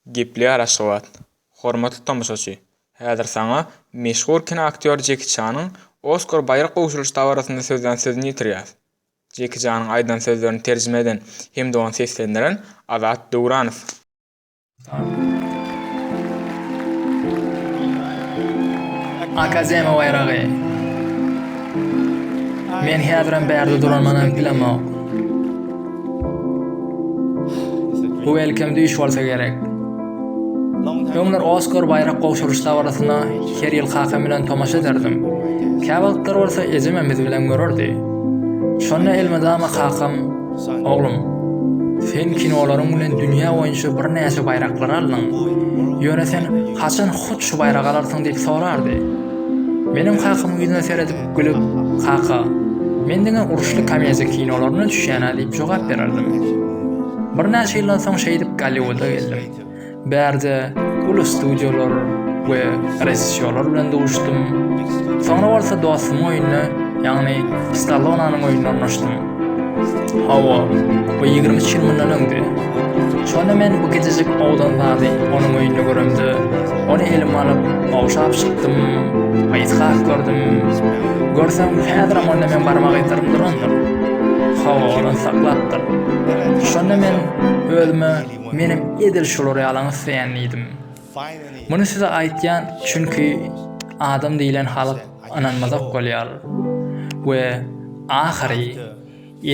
Gepleýär Aşgabat. Hormatly tomaşaçy, häzir saňa meşhur kinoaktýor Jeki Çanyň Oskar baýrak gowşuryş dabarasynda sözlän sözüni ýetirýäs. Jeki Çanyň aýdan sözlerini terjime eden hem-de ony seslendiren Azat Döwranow. Akademiýa baýragy. Men häzirem bärde duranman hem bilemok. Bu welcome düýş bolsa gerek. Öňler Oskar baýrak gowşuryş dabarasyna her ýyl kakam bilen tomaşa ederdim. Käwagtlar bolsa ejemem biz bilen görerdi. Şonda elmydama kakam, Oglum, sen kinolaryň bilen dünýä boýunça birnäçe baýraklary aldyň. Ýöne sen haçan hut şu baýragy alarsyň diýip sorardy. Menem kakamyň ýüzüne seredip, Gülüp, Kaka, men diňe uruşly komediýa kinolaryna düşýän-ä diýip jogap bererdim. Birnäçe ýyldan soň şeýdip Golliwuda geldim. Bärde uly studiýalar we režissýorlar bilen duşdum. Soňra bolsa dostumyň öýünde, ýagny Stallonanyň öýünde ornaşdym. Hawa, bu ýigrimi üç ýyl mundan öňdi. Şonda men bu gijejik owdan zady onuň öýünde göremde, ony elime alyp, ogşap çykdym, ysgak gördüm. Görseň, häzirem onda meň barmak yzlarym durandyr. Hawa, ony saklapdyr. Şonda men özüme, menem edil şular ýalyňy isleýän diýdim. Muny size aýtýan çünki adam diýilen halk ynanmazak bolýar we ahyry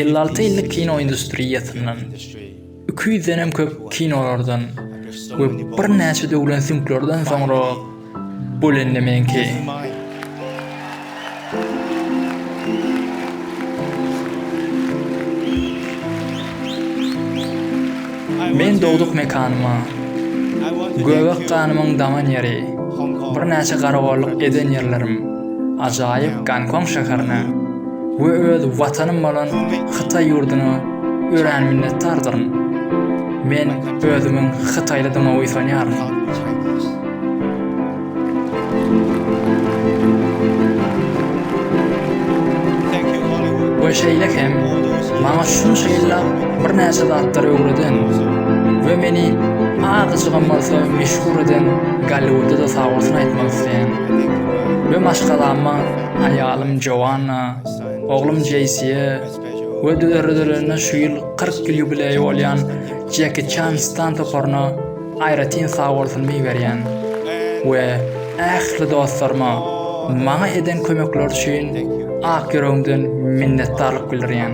elli alty ýyllyk kino industriýasyndan, iki ýüzdenem köp kinolardan we birnäçe döwlen süňklerden soňra bu lendemeňki. Men dogduk mekanyma, Göbek ganymyň daman ýeri, birnäçe garagolluk eden ýerlerim, ajaýyp Gonkong şäherine we öz Watanym bolan Hytaý ýurduna örän minnetdardyryn. Men özümiň hytaýlydygyma buýsanýaryn. we şeýle hem maňa şunça ýyllap birnäçe zatlary öwreden we meni azajygam bolsa meşhur eden Golliwudda-da sag bolsun aýtmak isleýän we maşgalama aýalym Joanna, oglum Jeýsiýe we döredilenine şu ýyl kyrk ýyl ýubileýi bolýan Jeki Çan stan toparyna Aýratyn sag bolsun Biberýan we ähli dostlaryma maňa eden kömekleri üçin ak ýüregimden minnetdarlyk bildirýän.